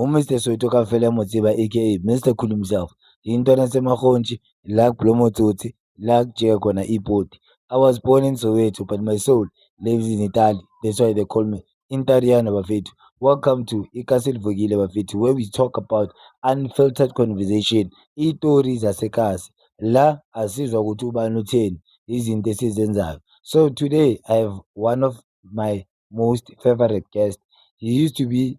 uMr Soweto kafela mo tseba aka Mr Cool himself intwana semakhontshi la kublomo tsotsi la kujika khona ipoti I was born in Soweto but my soul lives in Italy that's why they call me Intariana bafethu welcome to iKasile Vukile bafethu where we talk about unfiltered conversation itori zasekasi la asizwa ukuthi ubani utheni izinto esizenzayo so today I have one of my most favorite guest he used to be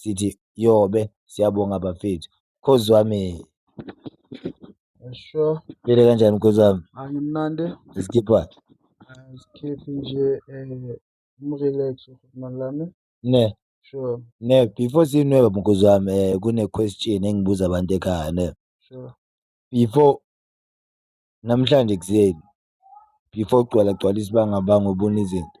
sithi yobe siyabonga bafethu mkhozi wami Esho phile kanjani mkhozi wami angimnandi isikhipha isikhiphi nje um eh, umrelax uhulumani lami ne sure ne before sinweba mkhozi wami um eh, kune-question engibuza abantu ekhaya ne sure before namhlanje ekuseni before ugcwala gcwala isibangabanga ubona izinto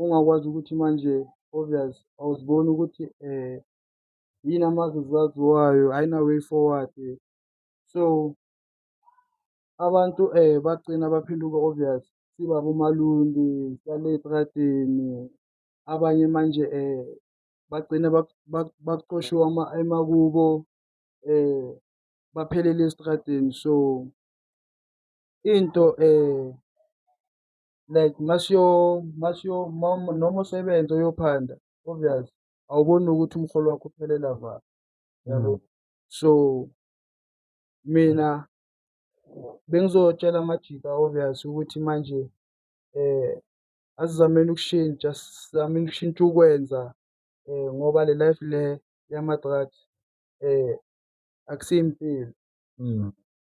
ongakwazi ukuthi manje obvious awuziboni ukuthi um yini amazi zaziwayo ayina-way forward so abantu um bagcina baphenduka obvious siba bomalundi sihlale ey'tradeni abanye manje um bagcine bacoshiwe emakubo um baphelele esitradeni so into um like masiyo masiyo mom noma usebenza uyophanda obvious awuboni ukuthi umholo wakho uphelela va yabo mm. so mina bengizotshela amajika obvious ukuthi manje eh asizameni ukushintsha sizameni ukushintsha ukwenza eh ngoba le life le yama drugs eh akusiyimpilo mm.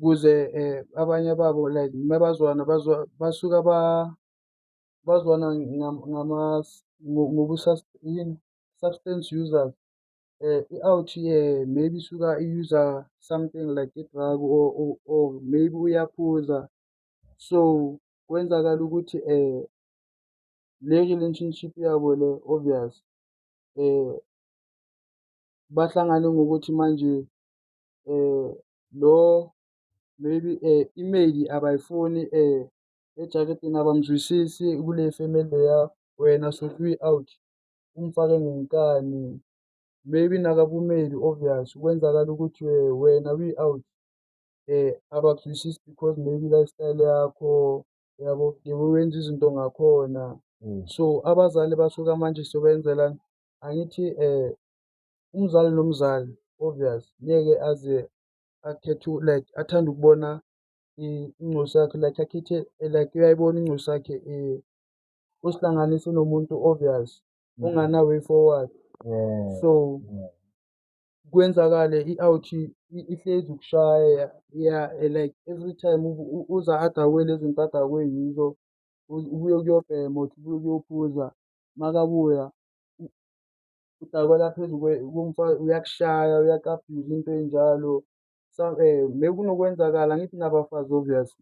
kuze eh, abanye babo like mabazwana bazwa basuka ba bazwana ngama ngobu yini substance users eh i-out eh maybe suka i-user something like i-drug or, or, or maybe uyaphuza so kwenzakala ukuthi eh le relationship yabo le obvious eh bahlangane ngokuthi manje lo maybe imeyili abayifuni ejaketini abamzwisisi kule femeli leya wena sothi uyi-out umfake ngenkani maybe nakabumeli obvious kwenzakala ukuthi wena uyi-out abakuzwisisi because maybe lifestyle yakho yabo yebo wenza izinto ngakhona so abazali basuka manje sobenzelani angithi um umzali nomzali obvious ngeke aze akhethe like athanda ukubona incosi yakhe like akhethe like uyayibona incosi yakhe um usihlanganise nomuntu obvious mm. ongana way forward so kwenzakale i-out ihlezi ukushaya ya like every time uza adakwe lezi zinto adakwe yizo ubuye kuyobhema uthi ubuye kuyophuza makabuya udakwa la phezu komfazi uyakushaya uyaku-abuse into enjalo so um eh, mekunokwenzakala angithi nabafazi obvious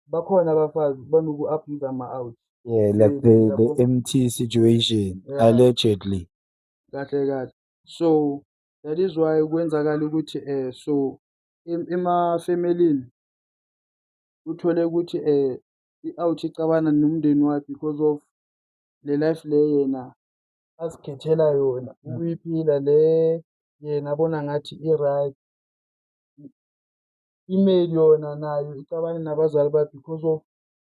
bakhona abafazi banoku-abuse ama-out yeah like the, the empty situation yeah. allegedly kahle kahle so that is why kwenzakala ukuthi um so emafemelini uthole ukuthi um i-out icabana nomndeni wakhe because of le life le yena azikhethela yona mm. ukuyiphila le yena abona ngathi i-right email yona nayo icabane nabazali bakhe because of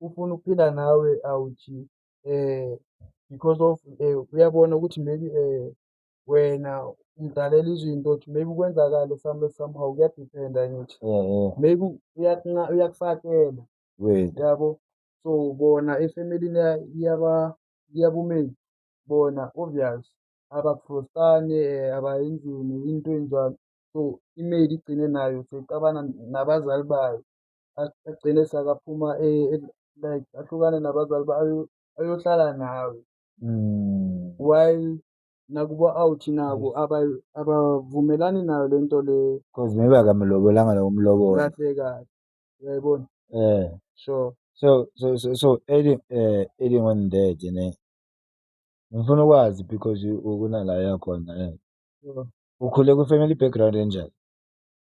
ufuna ukuphila nawe awuthi eh because of eh, uyabona ukuthi maybe eh wena umdalela izinto ukuthi maybe kwenzakale some somehow kuyadependa ngithi yeah, yeah. maybe uyakufakela yabo so bona efemelini yaba yabumeli bona obvious abaprostane abayenzeni into enjalo so i-mail igcine nayo seyixabana nabazali bayo agcine sakaphuma e, e, like ahlukane nabazali bayo ayohlala nawe mm. while nakubo out nabo abavumelani nayo lento le cause maybe akamlobolanga lowo mlobolo kahle kahle uyayibona eh so so so so, so adding eh adding on that ne ngifuna ukwazi because ukuna la yakhona eh ukhule ku family background enjani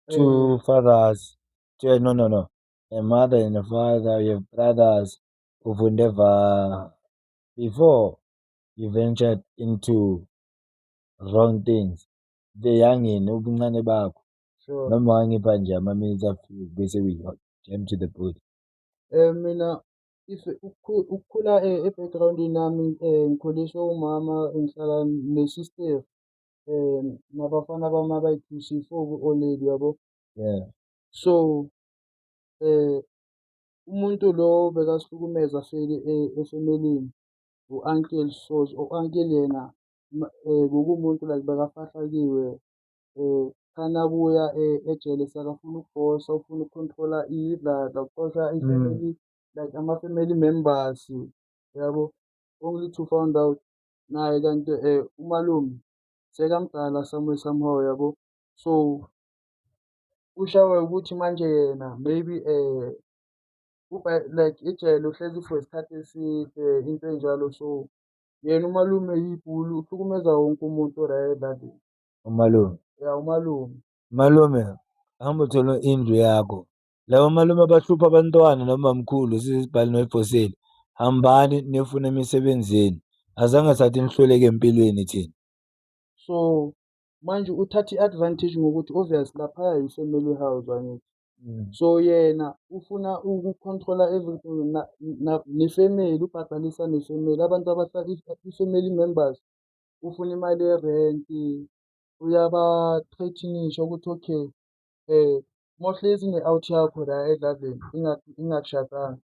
two eh. fathers two, no no no a mother and a father you have brothers ufunde va before you ventured into wrong things beyangeni ubuncane bakho sure noma wangipha nje ama-minutes afike bese we jam to the body um mina if ukukhula eh, e-backgroundini yami um ngikhuliswe umama ngihlala nesister um nabafana bami abayi-two siyi-four ku-oledi yabo yeah so um umuntu lo bekasihlukumeza feli efemelini u-uncle so u-uncle yena um bekuwumuntu like bekafahlakiwe um khani akuya eh, ejele sakafuna ukubosa ufuna ukucontrola idlala uxosha mm. ifamily like ama-family members yabo only to found out naye kanti um umalume sekamdala somewhere somehow yabo so ushawe ukuthi manje yena maybe um like ijele uhlezi for isikhathi eside into enjalo so yena umalume yibhulu uhlukumeza wonke umuntu orayedlali umalume ya umalume malume hamba uthola indlu yakho laba malume abahlupha abantwana nomamkhulu sisibhali noyifoseli hambani nifune emisebenzini azange sathi nihluleke empilweni thina so manje uthatha i-advantage ngokuthi obvious laphaya yi-family house angithi mm. so yena ufuna uku-controla everything nefamily ubhadalisa nefamily abantu abahlala i-family members ufuna imali yerenti uyabathrethinisha ukuthi okay um mohlezi ne-out yakho la edlaleni ingakushadanga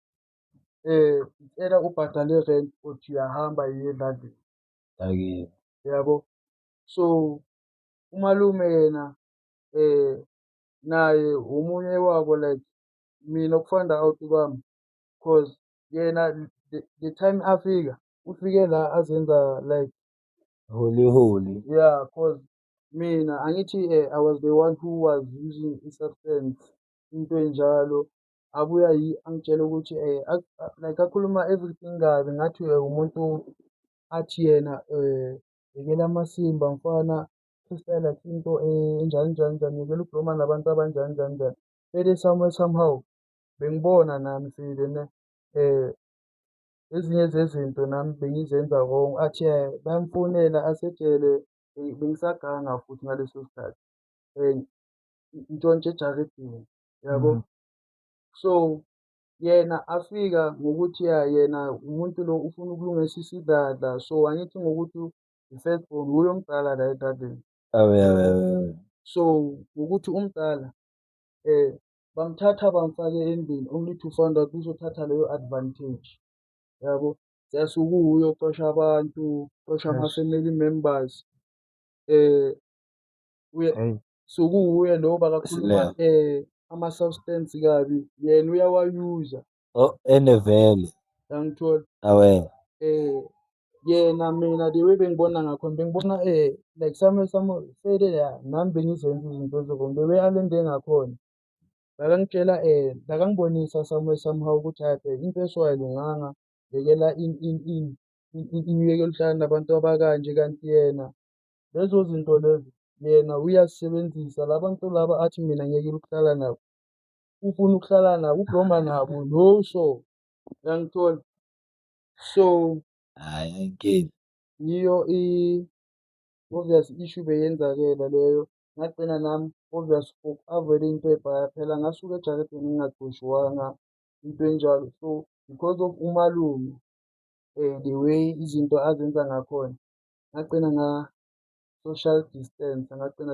um cela ubhadale irent uthi uyahamba yiye edlaleni Ayibo. Yabo? So umalume yena eh naye omunye wabo like mina okufanda out kwami cause yena the time afika ufike la azenza like holy holy yeah cause mina angithi eh, i was the one who was using i-substance into enjalo abuya yi angitshela ukuthi eh, like akhuluma everything kabi ngathi eh, umuntu athi yena eh, yekela amasimba mfana freestyle akhe into eh, enjani njani njani yekela ubloma nabantu abanjani njani njani vele somewhere somehow bengibona nami sile ne um ezinye zezinto nami bengizenza wrong athi bayamfonela asejele bengisaganga futhi ngaleso sikhathi um ntshontshe ejaridini yabo mm. so yena afika ngokuthi ya yena umuntu lo ufuna ukulungisa isidladla so angithi ngokuthi i-first born wuye omdala la edladleni so ngokuthi umdala um bamthatha bamfake endlini only to find out uzothatha leyo advantage yabo just ukuwuye ocosha abantu cosha ama-family members eh uye sokuwuye lowo bakakhuluma eh ama-substance kabi yena uyawayuza Oh, ene vele yangithola awe eh yena mina the way bengibona ngakho bengibona eh like some some fede ya nami bengizenza izinto ezirongo the way alende ngakhona bakangitshela eh bakangibonisa some somehow ukuthi hayi bheka into eshoyo ayilunganga yekela in in in in- in- iniyekela uhlala nabantu abakanje kanti yena lezo zinto lezo yena uyazisebenzisa labantu laba athi mina ngiyekela ukuhlala nabo ufuna ukuhlala nabo ubloma nabo no so uyangithola so hayi ayinkinga yiyo i obvious issue beyenzakela leyo ngagcina nami obvious avoid into ebhaya phela ngasuke ejaketheni ngingagqoshiwanga into enjalo so because of umalume um the way izinto azenza ngakhona ngagcina nga-social distance ngagcina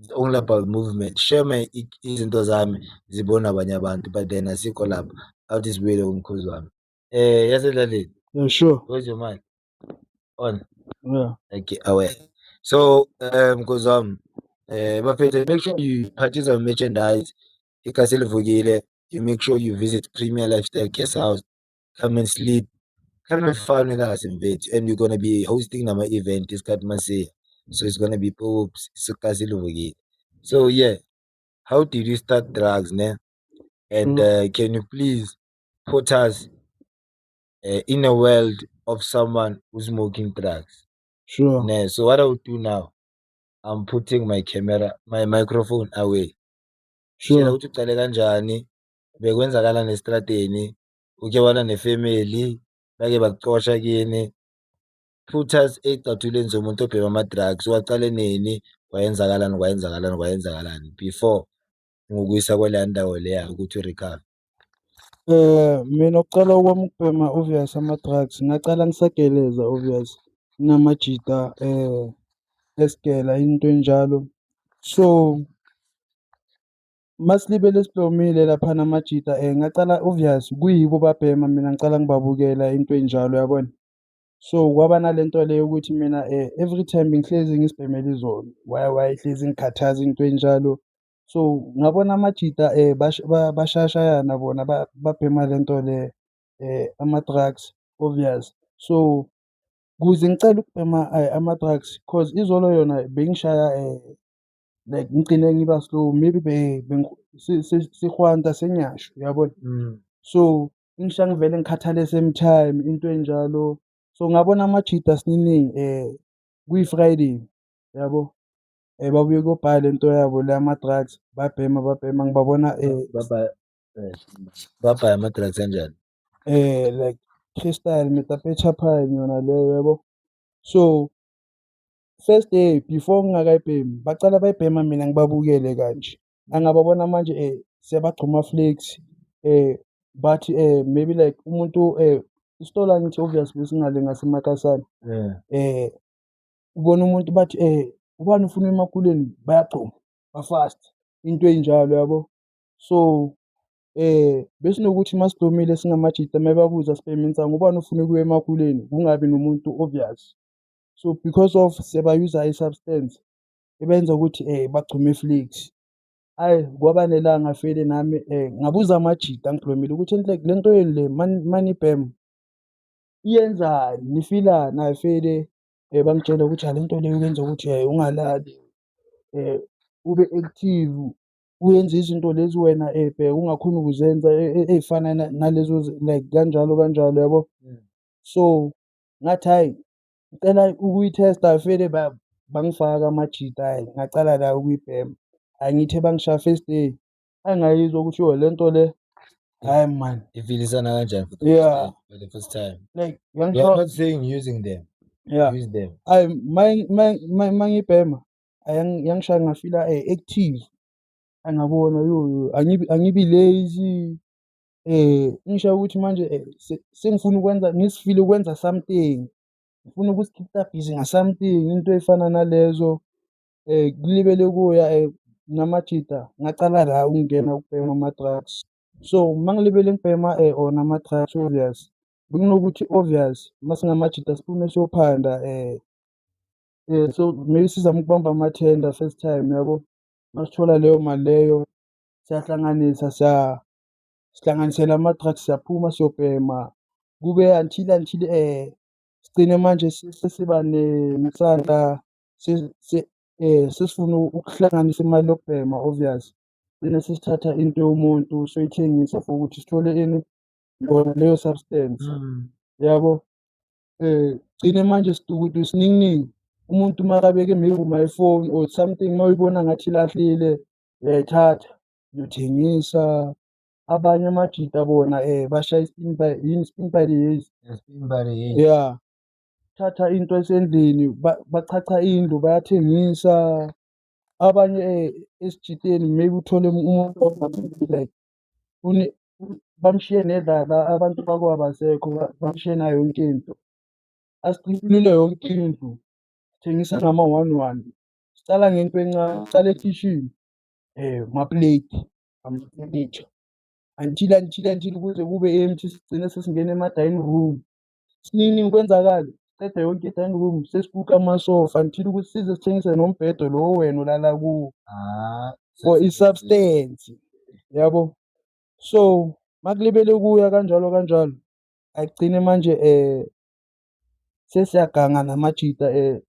It's only about movement. Share my izinto zami zibona abanye abantu but then asikho lapho. Awuthi sibuyele kumkhozi wami. Eh yasedlaleni. Yeah, sure. Where's your mind? On. Yeah. Okay, away. So um mkhozi wami eh bafethu make sure you purchase our merchandise. Ikhasi livukile. You make sure you visit Premier Lifestyle Guest House. come and sleep come and fun with us mfethu and we're gonna be hosting nama-event isikhathi masiya so it's gonna be pops isiqa siluvukile so yeah how did you start drugs ne and mm. uh, can you please put us uh, in a world of someone who's smoking drugs sure ne so what i will do now i'm putting my camera my microphone away sure ukuthi uqale kanjani bekwenzakala nestradeni uke wana nefemeli bake bakucosha kini put us ey'cathulweni zomuntu obhema ama-drugs waqale nini kwayenzakalani kwayenzakalani kwayenzakalani before ngokuyisa kwaleya ndawo leya ukuthi u-recover Eh, mina ukuqala kwami ukubhema obvious ama-drugs ngaqala ngisageleza obvious, nginamajita eh, esigela into enjalo. So Masilibele sihlomile laphana amajita um ngacala obvious kuyibo babhema mina ngicala ngibabukela into enjalo yabona. So kwaba nale nto le yokuthi mina um every time bengihlezi ngisibhemela izolo why why hlezi ngikhathaza into enjalo. So ngabona amajita um bashayashayana bona babhema le nto le um ama-drugs obvious. So kuze ngicela ukubhema ama-drugs cause izolo yona bengishaya um like ngigcine ngiba slow maybe be bengi- si- si- sihwanta senyasho uyabona Mm. so ingisha ngivele ngikhathale same time into enjalo so ngabona amajida siningi eh kuyi-friday yabo eh babuye kobhala le nto yabo le ama-drugs babhema babhema ngibabona eh Baba eh, babhaya ama-drugs anjani? eh like crystal metapetsha pine yona leyo yabo so first day before ngingakayibhemi bacala bayibhema mina ngibabukele kanje angababona manje um eh, siyabagcuma flex um eh, but um eh, maybe like umuntu um isitolo angithi obviously singale ngasemakasana um ubona umuntu bathi um ubani ufuna emakuleni bayagcuma bafast into enjalo yabo so um besinokuthi uma sidomile singamajita uma bebabuza sibheme insango ubani ufuna ukuya emakuleni kungabi nomuntu obvious so because of sebayuza i-substance ebenza ukuthi um bagcume iflix ayi kwaba nelanga fele nami um ngabuza amajita ngigqwemile ukuthi enhlek le nto yenu le money bam iyenzani nifilani ayi fele um bangitshela ukuthi hale nto leyo kwenza ukuthi um ungalali um ube active uyenza izinto lezi wena um bheka ungakhoni ukuzenza ey'fana nalezo like kanjalo kanjalo yabo mm. so ngathi hhayi ngicela ukuyithesta vele bangifaka amajita hhayi ngacala la ukuyibhema hhayi ngithe bangishaya first day hhayi ngayizwa ukuthi yo le nto le hhayi mani ifilisana kanjani for the first Yeah. time- for the first time like you are yangishaya not saying using them yeah use them hhayi ma- ma- ma- ma ngibhema hhayi yang- yangishaya ngafila eh, active angabona yo yo angibi angibi lazy Engishoyo ukuthi manje sengifuna ukwenza ngisifile ukwenza something, ngifuna ukuzikhipha bhizi nga-something into ey'fana nalezo kulibele kuya namajita ngacala la ukungena ukubhema ama-drugs. So uma ngilibele ngibhema wona ama-drugs obvious bekunokuthi obvious uma singamajita siphume siyophanda so maybe sizame ukubamba amathenda first time yabo, masithola leyo mali leyo siyahlanganisa . sihlanganisela ama-drugs siyaphuma siyobhema kube until until um sigcine manje sesiba nesandla um sesifuna ukuhlanganisa imali yokubhema obvious gcine sesithatha into yomuntu soyithengisa for ukuthi sithole ini yona leyo substance mm. yabo um gcine manje sidukudu sininginingi umuntu makabeke maybe my phone or something mawuyibona ngathi ilahlile uyayithatha Ngiyotshengisa abanye amajita bona um bashaya i-spin by yini spin by the years Spin by the year. ya thatha into esendlini ba- bachacha indlu bayathengisa abanye um esijiteni maybe uthole umuntu ongaphili like une- bamshiye nedlala abantu bakubo abasekho ba- bamshiye nayo yonke into asiqinile yonke indlu thengisa ngama-one one siqala ngento encane siqala ekhishini um kuma-plate amafenitsha until until until kuze kube empty sigcine sesingena ema-dining room sinini kwenzakale siqeda yonke i-dining room sesibuka amasofa until ukuthi size sithengise nombhedo lo wena olala kuwo ah, for i-substance yabo so makulibele kuya kanjalo kanjalo agcine manje um sesiyaganga namajita um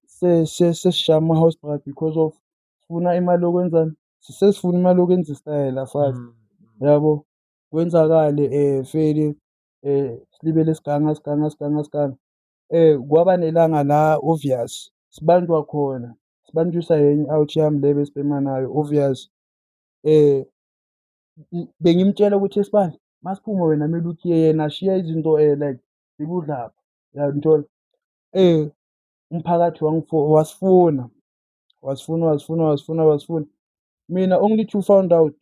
sesishaya ama-house bra because of sifuna imali yokwenzani sesifuna imali yokwenza isitayela sazi mm, mm. yabo kwenzakale um feli um silibele siganga siganga siganga siganga um kwaba nelanga la obvious sibanjwa khona sibanjwisa yenye i-out yami le besibhema nayo obvious um bengimtshela ukuthi esibani masiphume wena kumele uthi yena shiya izinto um like zikudlapha uyangithola um umphakathi wasifuna wasifuna wasifuna wasifuna wasifuna mina only to found out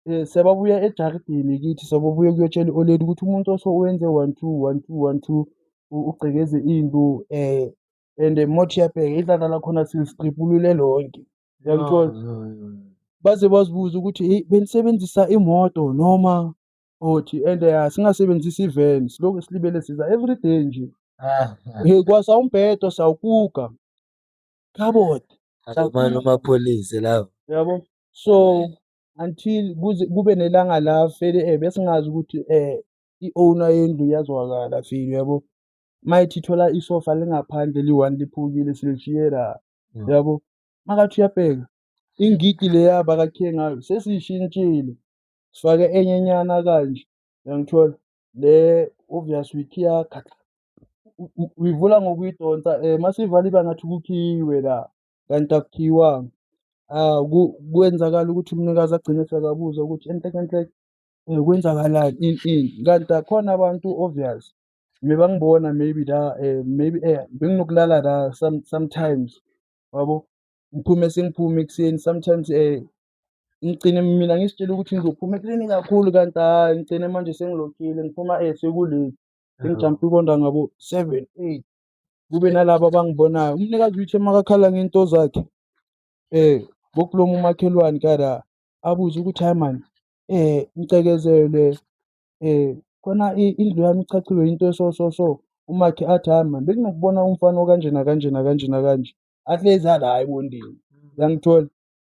um sebabuya ejaridini kithi sebabuya kuyotshela i-oledi ukuthi umuntu oso wenze one two one two one two ugcekeze into um eh, and mothi yabheka idlala lakhona silistribulule lonke yangithola baze bazibuza ukuthi eyi benisebenzisa imoto noma othi and um singasebenzisi ivan silokhu silibele siza everyday nje um kwasa umbhedo sawukuka Khabona. Akumane umapholise lawo. Yabo. So until kuze kube nelanga la fele eh besingazi ukuthi eh i-owner yendlu yazwakala feel yabo. Mayithi thola isofa lingaphandle liyi-one liphukile silishiye la. Mm. Yabo. Makathi uyabheka ingidi leya bakakhe ngayo sesiyishintshile sifake enye nyana kanje uyangithola le obvious week iyakhatha uyivula ngokuyidonsa um eh, masivala iba ngathi kukhiyiwe la kanti akukhiyiwanga um kwenzakala ukuthi umnikazi agcine sekabuza ukuthi enhlekenhleke um eh, kwenzakalani ini ini kanti akhona abantu obvious mebangibona maybe la um maybe um benginokulala la sometimes wabo ngiphume sengiphume ekuseni sometimes um ngigcine mina ngisitshela ukuthi ngizophuma eklini kakhulu kanti hhayi ngigcine manje sengilokhile ngiphuma eh sekulate sengijampe ikonda ngabo seven eight kube nalabo abangibonayo umnikazi uyithe makakhala ngento zakhe um eh, bokulomu umakhelwane kada abuze ukuthi hayi mani um eh, ngicikezelwe um eh, khona indlu yami ichachiwe into eso so so umakhe athi hayi mani benginokubona umfana okanjena kanjena kanjena kanje ahlezi ala hhayi bondini yangithola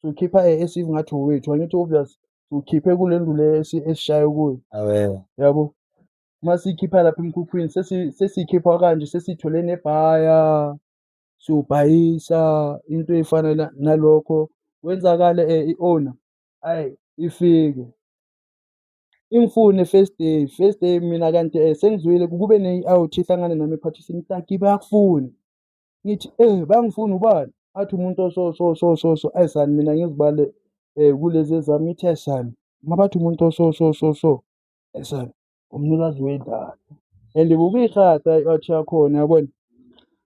siwukhipha e- esive ngathi owethu angithi obvious siwukhiphe kule ndlu le esi- esishaye kuyo Awewe. yabo uma siyikhipha lapha emkhukhwini sesi- sesiyikhipha kanje sesithole nebhaya siwubhayisa into efana na- nalokho kwenzakale um i-owner ayi ifike ingifune first day first day mina kanti um sengizwile kube ne-out ehlangane nami ephathisini taki bayakufuna ngithi eh bangifuna ubani athi umuntu oso so so so so ayisani mina ngizibale eh kulezi ezami ngithi ayisani ngabathi umuntu oso so so so ayisani umnikazi wedlala and bukuyirhatha i-out yakhona yabona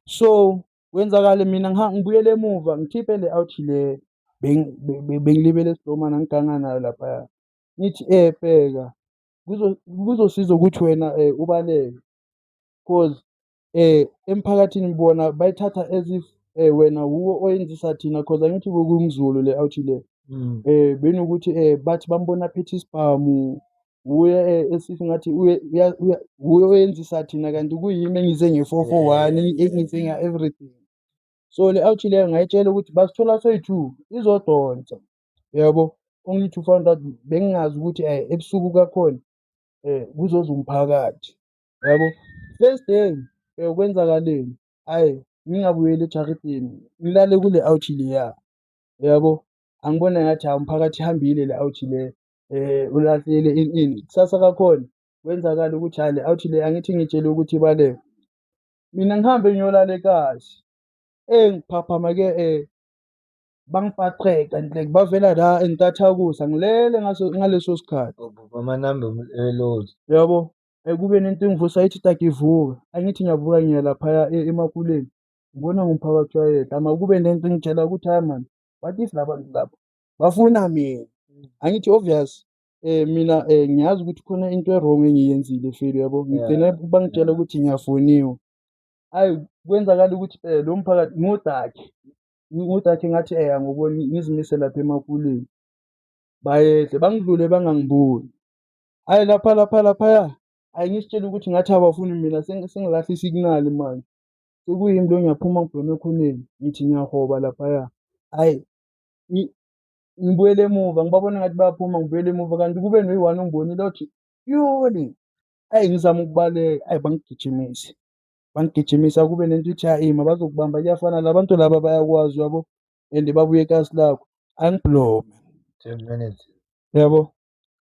so kwenzakale mina ngibuyele emuva ngikhiphe le out le bengilibele esidomana ngiganga nayo laphaya ngithi eh bheka kuzosiza ukuthi wena eh ubaleke cause um emphakathini bona bayithatha as if um wena wuwo oyenzisa thina cause angithi bokumzulu le awuthi le um benokuthi um bathi bambona aphethe isibhamu wuye um esithi ngathi wuye oyenzisa thina kanti kuyimi engize nge-four four one engize nga-everything so le awuthi leyo ngayitshela ukuthi basithola soyi-two izodonsa yabo only to find out bengingazi ukuthi um ebusuku kakhona um kuzoza umphakathi yabo first day eh, kwenzakaleni ayi ngingabuyeli ejaridini ngilale kule awuthi leya yabo angibona ngathi hawu umphakathi ihambile le awuthi le um ulahlile ini ini kusasa kakhona kwenzakala ukuthi hayi le awuthi le angithi ngitshele ukuthi ibaleke mina ngihambe ngiyolala ekazi eyi ngiphaphama-ke um bangipaqeka like bavela la entathakusa ngilele ngaleso sikhathi bamanambe eloli yabo Kube nento engivusa ithi taki vuka, angithi ngiyavuka ngiya laphaya eMakuleni ngibona ngumphakathi wayedwa. Makube nento engitshela ukuthi hayi mani what if laba bantu laba bafuna mina, angithi obvious um mina um ngiyazi ukuthi khona into e-wrong engiyenzile feli yabo, ngigcine bangitshela ukuthi ngiyafoniwe. Hhayi kwenzakala ukuthi um lo mphakathi ngodakhe, ngodakhe ngathi um angiboni ngizimise lapha eMakuleni, bayehla bangidlule bangangiboni. Hhayi lapha lapha laphaya. Hhayi ngisitshela ukuthi ngathi abafuni mina seng- sengilahle isignali manje. Sekuyimi lo ngiyaphuma ngibheme ekhoneni. Ngithi ngiyahoba laphaya. Hhayi ngi- ngibuyele emuva ngibabona ngathi bayaphuma ngibuyele emuva kanti kube noyi-one ongibonile othi yoni. Hhayi ngizama ukubaleka. Hhayi bangigijimise. Bangigijimise akube nento ithi hhayi mabazokubamba kuyafana la bantu laba bayakwazi uyabo and babuye ekasi lakho. Angibhulome. Ten minutes. Yabo?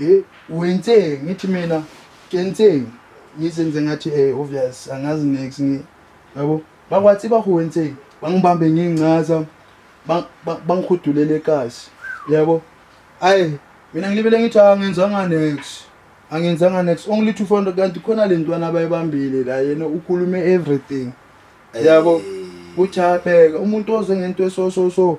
Eh wenzeni ngithi mina kenzeni ngizenze ngathi eh obvious angazi next ngi yabo bakwathi bahu wenzeni bangibambe ngincaza bangikhudulele ekasi yabo ayi mina ngilibele ngithi angenzanga next angenzanga next only 200 kanti khona le ntwana abayibambile la yena ukhulume everything yabo uthi abheka umuntu oze ngento eso so so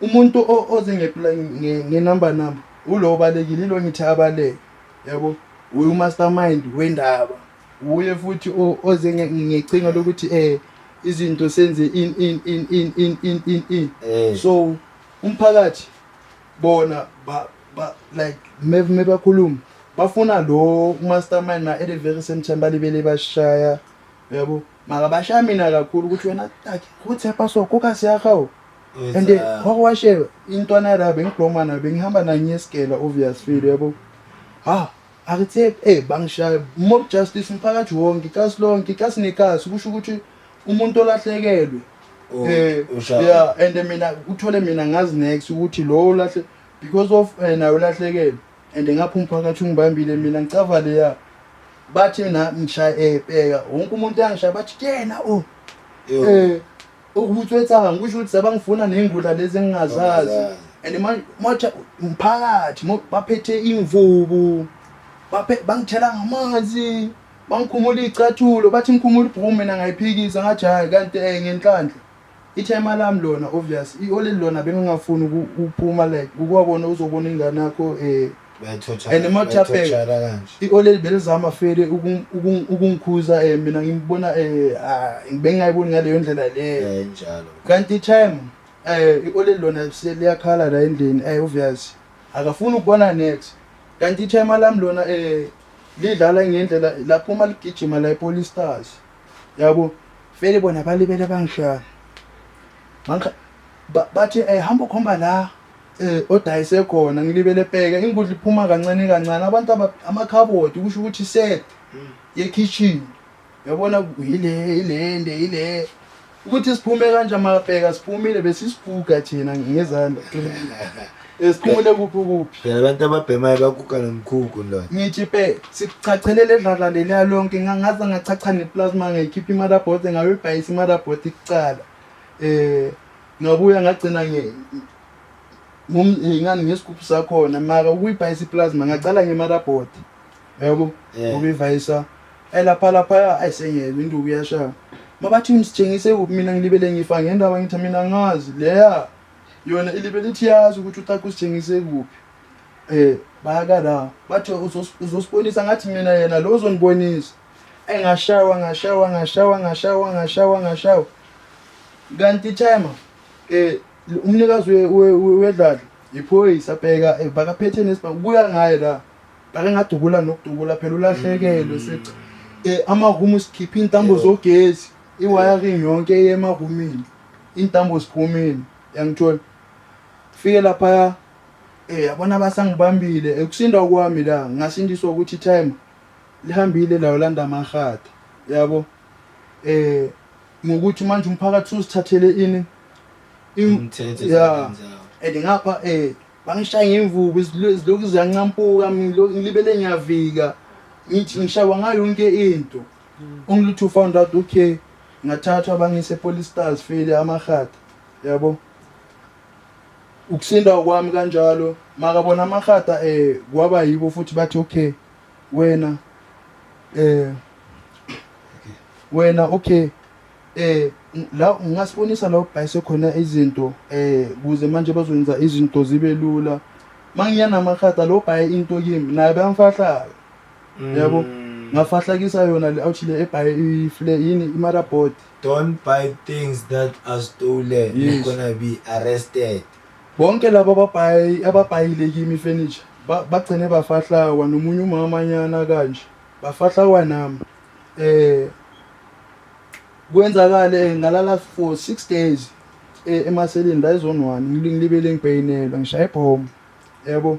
umuntu oze ngenumber number ulo obalekile ilo ngithi abaleke yabo uye umastermind wendaba uye futhi oze ngecinga lokuthi um izinto senze in in in in in in in in eh. so umphakathi bona ba ba like me me bakhuluma bafuna lo mastermind na at the very same time balibele bashaya yabo makabashaya mina kakhulu ukuthi wena taki uthepha so kokasi yakhawo and wakwashe intwana yara bengiblomana bengihamba nanye esigela obvious feel yabo ha akuthe eh bangishaya mob justice umphakathi wonke ikasi lonke ikasi nekasi kusho ukuthi umuntu olahlekelwe oh, eh yeah and mina uthole mina ngazi next ukuthi lo lahle because of eh, nayo lahlekelwe and ngapha umphakathi ungibambile mina ngicava leya bathi mina ngishaya ebheka wonke umuntu angishaya bathi kuyena o oh. eh ukubuthwethanga ngisho ukuthi sabangifuna nengula lezi engingazazi and manje manje umphakathi baphethe imvubu baphe bangithela ngamanzi bangikhumula icathulo bathi ngikhumula ibhuku mina ngayiphikisa ngathi hayi kanti eh ngenhlanhla Ithema lami lona obvious ioleli lona bengingafuni ukuphuma like ukwabona uzobona ingane yakho um and mathapheka ioleli belizama fele ukungikhuza um eh, mina ngibona um eh, ah, bengingayiboni ngaleyo ndlela leyo eh, kanti itime um ioleli lona liyakhala la endlini um obvious akafuni ukubona next kanti ithema lami lona um lidlala ngendlela lapho uma ligijima la ipolistars yabo vele bona balibele bangishaya mangikha bathi eh hamba ukhomba la eh odayise khona ngilibele bheka ingudla iphuma kancane kancane abantu amakhabodi kusho ukuthi set ye kitchen yabona ile ilende ile Ukuthi siphume kanjani makabheka siphumile besisiguga thina ngezandla. Esiphumule kuphi kuphi? Phela abantu ababhemayo baguga nomkhukhu ndoda. Ngithi pe sikuchachelele edlala leliya lonke ngangaze ngachacha neplasma ngayikhipha imarabote ngayibhayisa imarabote kucala. Eh ngabuya ngagcina nge ngani ngesigubhu sakhona mara ukuyibhayisa iplasma ngacala ngemarabote. yabo Yeah. ngoba ivayisa elapha laphaya ayi sengiyezwa induku iyashaya mabathi ngisithengise kuphi mina ngilibele ngifa ngendaba ngithi mina ngazi leya yona ilibele ithi yazi ukuthi utaka usithengise kuphi um bayaka la bathi "Uzos- uzosibonisa ngathi mina yena lo uzonibonisa eyi ngashawa ngashawa ngashawa ngashawa ngashawa ngashawa kanti timer um umnikazi we- we- we- wedlala yiphoyisa bheka eh, bakaphethe nesibhamu buya ngaye la Ngake ngadubula nokudubula phela ulahlekelwe seca eh, amarumu usikhiphe iy'ntambo zogesi i-wiring yonke eye emarumini iy'ntambo ziphumile yangithola fike laphaya um yabona abasangibambile ekusinda kwami la ngasindiswa ukuthi itime lihambile layo landa amahatha yabo um ngokuthi manje umphakathi suzithathele ini ya and ngapha um Bangishaya ngemvubu izilokhu ziyancampuka mina ngilibele ngiyavika ngithi ngishawa ngayo yonke into only to found out okay ngathathwa bangise police stars file amahata yabo ukusinda kwami kanjalo makabona amahata eh kwaba yibo futhi bathi okay wena eh wena okay Eh la ngasibonisa la ubhayise khona izinto eh kuze manje bazokwenza izinto zibe lula. Mangiya namakhata lo bhaye into kimi naye bamfahlayo. Yabo? Mm. Ngafahlakisa yona le awuthile ebhaye ifle yini imara board. Don't buy things that are stolen. Yes. You're gonna be arrested. Bonke laba babhayi ababhayile kimi furniture bagcine bafahlawa nomunye umama nyana kanje. Bafahlawa nami. eh kwenzakale ngalala for 6 days eh, emaseleni la ezone 1 ngilibele ngibhayinelwa ngishaya ibhomu yabo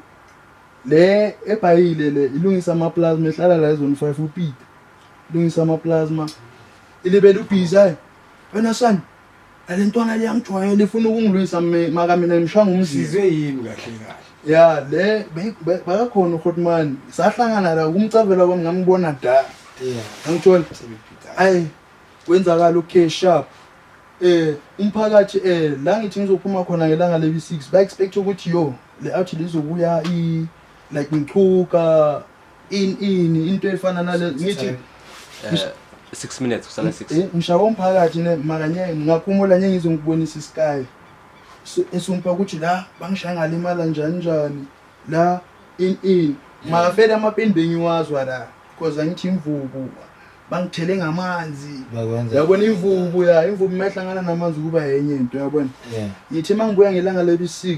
le ebhayile le ilungisa ama plasma ehlala la ezone 5 upita ilungisa ama plasma ilibele ubhizi ayi wena son Alentwana liyangijwayela ifuna ukungilwisa mi- maka mina ngimshanga umzimba. Sizwe yini kahle kahle? Ya le be- be- bakakhona uHotman. Sahlangana la kumcavela kwami ngamubona da. Yeah. Angithola. Sebephica. Ayi kwenzakala okay sharp. Eh umphakathi eh la ngithi ngizophuma khona ngelanga lebi 6 ba expect ukuthi yo le out lizobuya i like ngichuka In ini into efana nale ngithi Eh, six minutes kusala six eh ngishawa umphakathi ne makanye ngakhumula nye ngizongibonisa isky. Esumpa ukuthi la bangishaya ngalimala njani njani. La in in makafele amapeni bengiwazwa la because angithi imvubu bangithele ngamanzi bakwenza yabona imvubu ya imvubu mayihlangana namanzi kuba yenye into yabona yeah ngithi mangibuya ngelanga lebi 6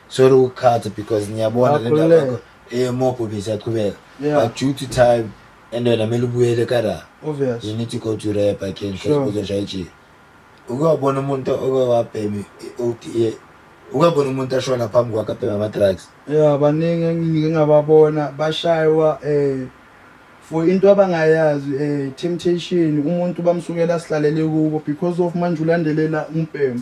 Sorry ukukhatha because ngiyabona le ndaba yakho eyemobho besiyaqhubeka. Yeah. But due to time and wena kumele ubuyele eKarara. Obvious. You need to go to rehab again Sure. because uzoshaya ijili. Uke wabona umuntu oke wabhema i-ODA. Uke wabona umuntu ashona phambi kwakhe abhema ama-drugs. Yeah, baningi engike ngababona bashaywa eh for into abangayazi eh temptation umuntu bamsukela sihlalele kubo because of manje ulandelela umbhemu.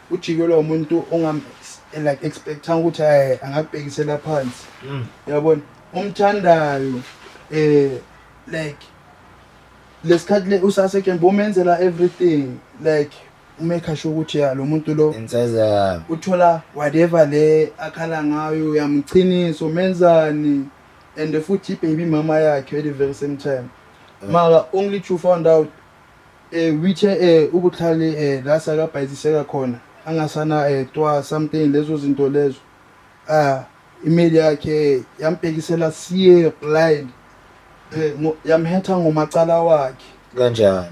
ujikelwa umuntu ongam like expectanga ukuthi eh angakubhekisela phansi mm. yabona umthandayo eh like lesikhathi le usase kembe umenzela everything like umekha sho ukuthi ya lo muntu lo inseza uthola whatever le akhala ngayo uyamqhinisa umenzani and futhi ibaby mama yakhe at the very same time eh. mara only to found out Eh withe eh ubuhlali eh la sakabhayiziseka khona angasana eh twa something lezo zinto lezo ah email yakhe yambhekisela siye blind eh yamhetha ngomacala wakhe kanjani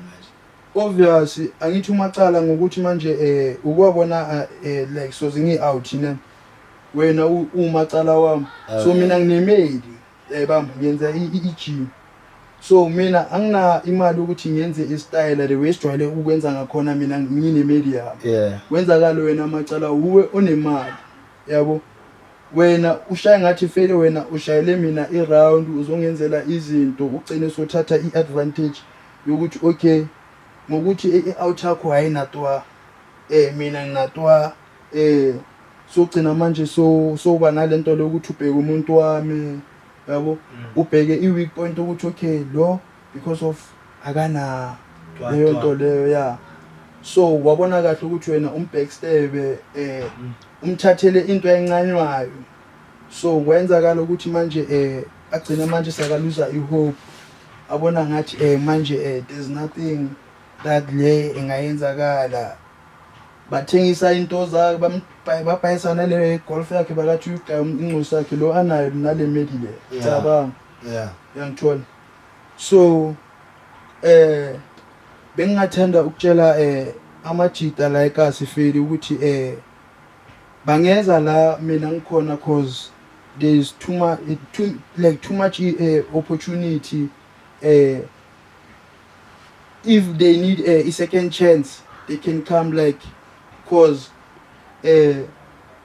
obvious angithi umacala ngokuthi manje eh ukwabona eh like so zingi out ne wena umacala wami so ah. mina nginemeli Eh bambo ngenza i-gym. So mina angina imali ukuthi ngenze istyle the way sijwayele ukwenza ngakhona mina ngine media. Yeah. Wenzakalo wena amacala uwe onemali. Yabo? Wena ushaye ngathi fele wena ushayele mina iround uzongenzela izinto ugcine sothatha iadvantage yokuthi okay ngokuthi i-out yakho hayinatwa eh mina nginatwa eh sogcina manje so soba nalento lokuthi ubheke umuntu wami yabo mm. ubheke i weak point ukuthi okay lo because of akana leyo nto leyo ya so wabona kahle ukuthi wena umbhekstebe eh mm. umthathele into encanywayo so kwenzakala ukuthi manje eh agcina manje sakaluza ihope abona ngathi eh manje eh there's nothing that le engayenzakala bathengisa into zakhe bambhayi babhayisa nale golf yakhe bakathi uyugaya incosi yakhe lo anayo nale medi le Yeah. cabanga yeah uyangithola so eh bengingathanda ukutshela eh amajita la ekasifeli ukuthi eh bangeza la mina ngikhona cause there is too much too, like too much eh, opportunity eh If they need a, a second chance, they can come like cause eh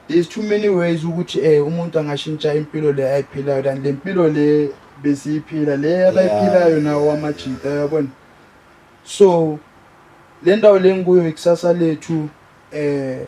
there's too many ways ukuthi eh umuntu angashintsha impilo le ayiphilayo than le mpilo le besiyiphila le abayiphilayo nawo wamajita yabona so le ndawo le ngikuyo ikusasa lethu eh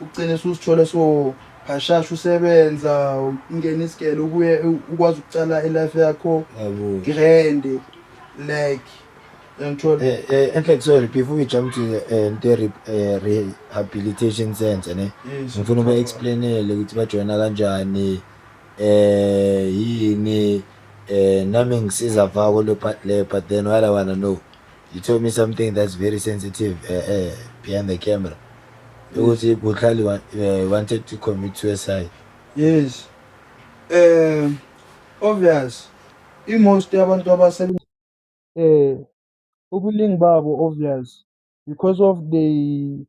Ugcine susithole so hashasha usebenza ungena isigele ubuye ukwazi ukucala ilife yakho grand like yangithola eh, eh, in fact sorry before we jump to the eh, the rehabilitation center ne ngifuna uba explainele ukuthi bajoyina kanjani eh yini eh nami ngisiza vako le part le but then what i want to know you told me something that's very sensitive eh eh behind the camera ukuthi kuhlali eh, wanted to commit suicide yes eh obvious imost yabantu abasebenza eh ubuningi babo obvious because of they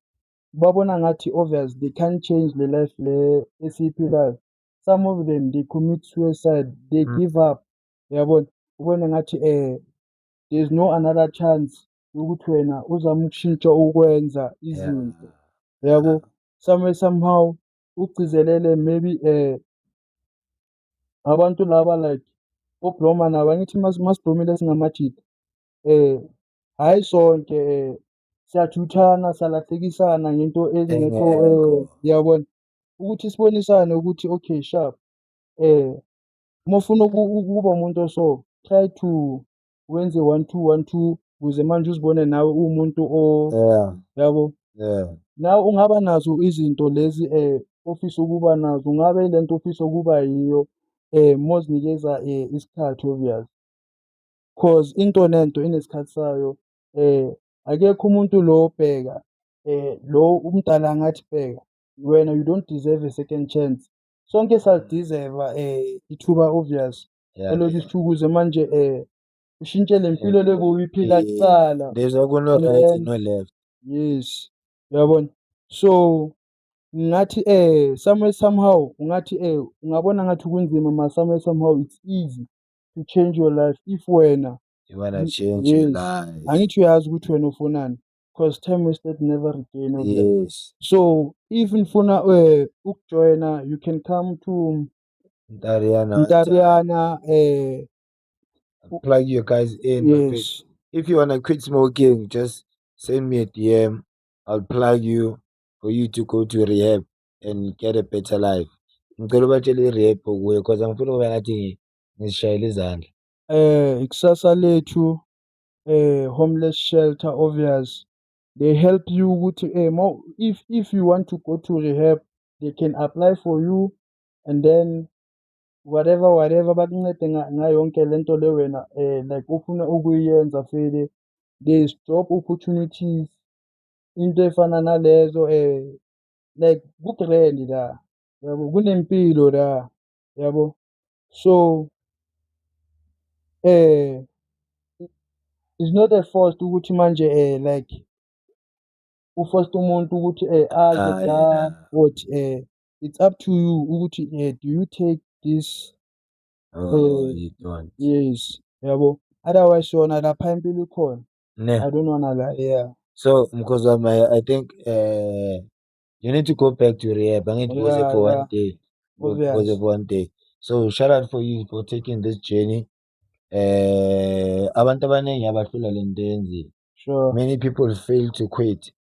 babona ngathi obvious they can't change the life le esiyiphilayo some of them they commit suicide they mm. give up yabona ubone ngathi eh there's no another chance ukuthi wena uzama ukushintsha ukwenza izinto yabo some somehow ugcizelele maybe um abantu laba like obloma nabo angithi masiblomile singamajida um hhayi sonke um siyathuthana salahlekisana ngento ezingekho um yabona ukuthi sibonisane ukuthi okay sharp um uma ufuna ukuba umuntu oso try to wenze one two one two ukuze manje uzibone nawe uwumuntu o yeah yabo yeah nawe ungaba nazo izinto lezi um ofisa ukuba nazo ungabe ile nto ofisa ukuba yiyo um mozinikeza um isikhathi obvious cause into nento inesikhathi sayo um akekho umuntu lo bheka um lo umdala angathi bheka wena you don't deserve a second chance sonke salidizeva um ithuba obvious Yeah. Hello Disukuze manje eh ushintshe le mpilo Yeah. leboyiphila Eh, kuqala. There's a kuno right and no left. Yes. Uyabona? So ngathi eh somewhere somehow ungathi eh ungabona ngathi kunzima ma somewhere somehow it's easy to change your life if wena You wanna Mm, change your yes. life. angithi uyazi ukuthi wena ufunani because time wasted never regain of that. Yes. So if nifuna eh ukujoyina you can come to Ntariana. Ntariana, eh, plug your guys in. Yes. If you wanna quit smoking, just send me a DM. I'll plug you for you to go to rehab and get a better life. Ngicela ubatshele i-rehab okuyo cause angifuni ukuba ngathi ngizishayela izandla. Eh, ikusasa lethu eh homeless shelter obvious they help you ukuthi eh if if you want to go to rehab they can apply for you and then whatever whatever bakuncede ngayo yonke le nto le wena um like ufuna ukuyenza vele they stop opportunities into efana nalezo um like ku-grand la yabo kunempilo la yabo so um it's not a forced ukuthi manje um like ufosta umuntu ukuthi um aze la or um it's up to you ukuthi uh, do you take this oh, uh, you don't. yes yabo otherwise yona lapha impilo ikhona ne i don't wanna lie yeah so mkhozi wami I, i think uh, you need to go back to rehab angithi yeah, uze for yeah. one day uze for one day so shout out for you for taking this journey eh abantu abaningi abahlula lento yenzile sure many people fail to quit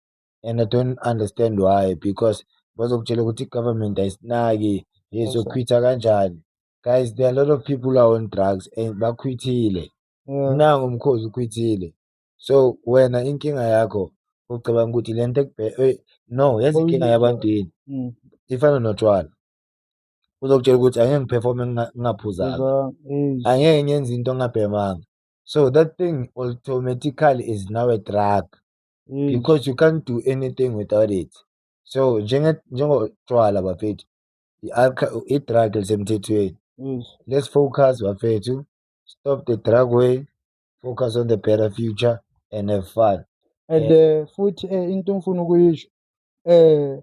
and I don't understand why because bazokutshela ukuthi i-government ayisinaki yezokhwitha kanjani guys there are a lot of people are on drugs and bakhwithile mm. nangu umkhozi ukhwithile so wena inkinga yakho ucabanga ukuthi le nto eh, no yazi inkinga yabantu yini mm. ifana notshwala uzokutshela ukuthi angeke ngiphefome ngingaphuzanga angeke ngenze into ngabhemanga so that thing automatically is now a drug mm. because you can't do anything without it so njengotshwala bafethu i-drug lisemthethweni mm. let's focus bafethu stop the drug way focus on the better future and have fun and uh, futhi uh, into ngifuna ukuyisho um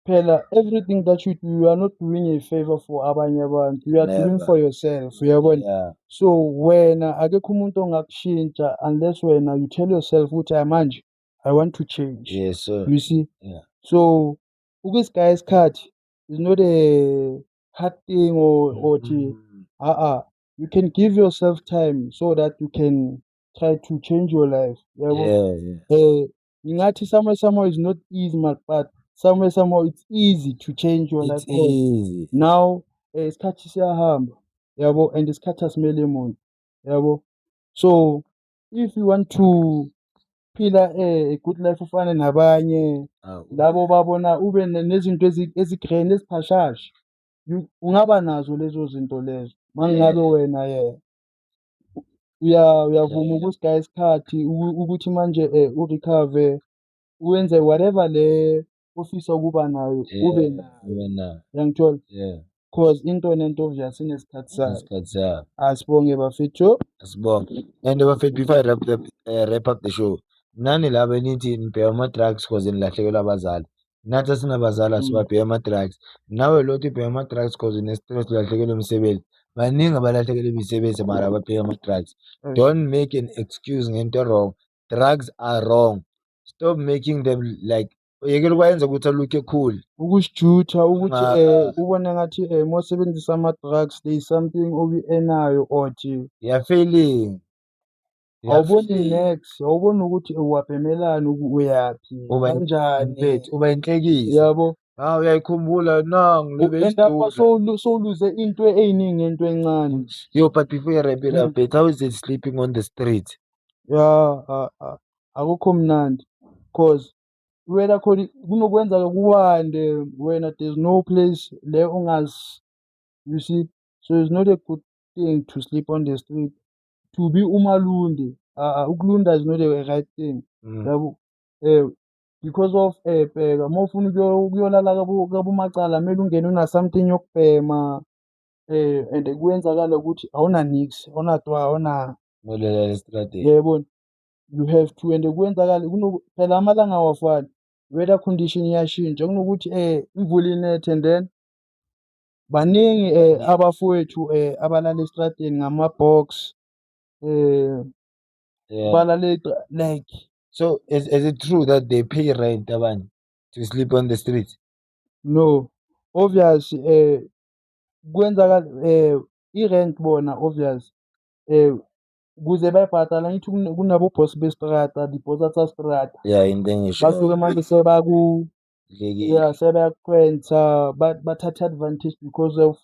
Phela everything that you do you are not doing a favor for abanye abantu you are doing Never. for yourself uyabona Yeah. so wena akekho umuntu ongakushintsha unless wena you tell yourself ukuthi hayi manje i want to change Yes, sir. you see Yeah. so ukusigaya isikhathi is not a hard thing or or thi Mm. uh-uh you can give yourself time so that you can try to change your life yabo Yeah, yeah. eh Ngingathi somewhere somehow is not easy man but somewhere somehow it's easy to change your life. Easy. Now eh, isikhathi siyahamba yabo and isikhathi asimele muntu yabo so if you want to phila eh, a good life ufane nabanye ah, labo babona ube nezinto ezigreen eziphashasha ungaba nazo lezo zinto lezo mangabe wena yena uya uyavuma ukusigaya isikhathi ukuthi manje um eh, urekhave wenze whatever le ofisa ukuba nayo ube nayo uyangithola cause into nento nje asinesikhathi sayo asibonge bafethu asibonge and bafethu before i wrap, the, uh, wrap up the show nani laba enithi nibheka ama-drugs cause nilahlekelwa abazali nathi asinabazali asibabheke mm. ama-drugs nawe lo uthi ubheke ama-drugs cause une-stress ulahlekelwe umsebenzi baningi abalahlekelwe imisebenzi mara ababheke ama-drugs mm. don't make an excuse ngento wrong drugs are wrong stop making them like yekela ukwayenza ukuthi alukhe cool ukusijutha ukuthi um ubone ngathi um eh, mosebenzisa ama-drugs there is something oku-enayo or nje you're failing Awuboni nex, awuboni ukuthi uwapemelani uku uyaphi Uba in- kanjani. mfethu uba inhlekisa Yabo. hawu uyayikhumbula nangu U- And lapha lebeyisdula sowulu- sowuluze into eyiningi into encane. yo but before you wrap it up Mm. bet how is it sleeping on the street Ya a- a- akukho mnandi cause wena khona kunokwenzaka kuwande wena there's no place le ongazi you see so it's not a good thing to sleep on the street to be umalunde uh, ukulunda is not a right thing mm. yabo um because of um bheka uma ufuna ukuyolala kabomacala kumele ungene una-something yokubhema um and kuyenzakala ukuthi awunanix awunatwa awuna yayibona you have to and kuyenzakala phela amalanga awafani weather condition iyashintsha kunokuthi um imvula inethe and then Baningi eh, Baningi. abafowethu eh, abalala estradeni ngama-box eh, Yeah. balala estra- like So is, is it true that they pay rent abanye to sleep on the streets? no obvious eh, kwenzakala eh, i-rent bona obvious eh, kuze bayibhadala ngithi kune- kunabo-boss bestrata di-boss tsa strata Yeah, in the English. basuke manje sebaku kudlekile yeah sebayakhwensa bathatha advantage because of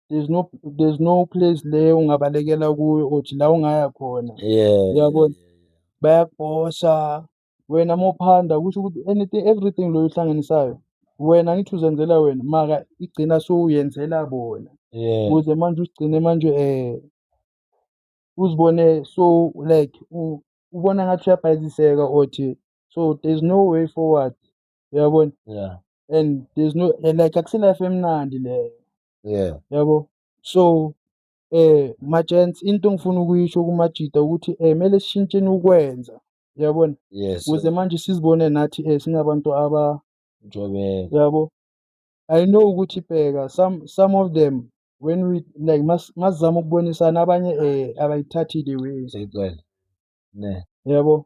there's no there's no place le ungabalekela kuyo othi la ungaya khona yeah uyabona bayakubhosha wena uma uphanda kusho ukuthi anything everything loyo uhlanganisayo wena angithi uzenzela wena maka igcina sowuyenzela bona yeah ukuze manje usigcine manje um uzibone so like ubona ngathi uyabhayiziseka othi so there's no way forward uyabona yeah and there's no eh, like akusilife emnandi leyo yeah yabo so eh majents into engifuna ukuyisho kumajita ukuthi eh mele sishintsheni ukwenza uyabona yes kuze manje sizibone nathi eh singabantu aba njobeko yabo i know ukuthi bheka some some of them when we like masizama ukubonisana abanye eh abayithathi the way seyigcwele ne yabo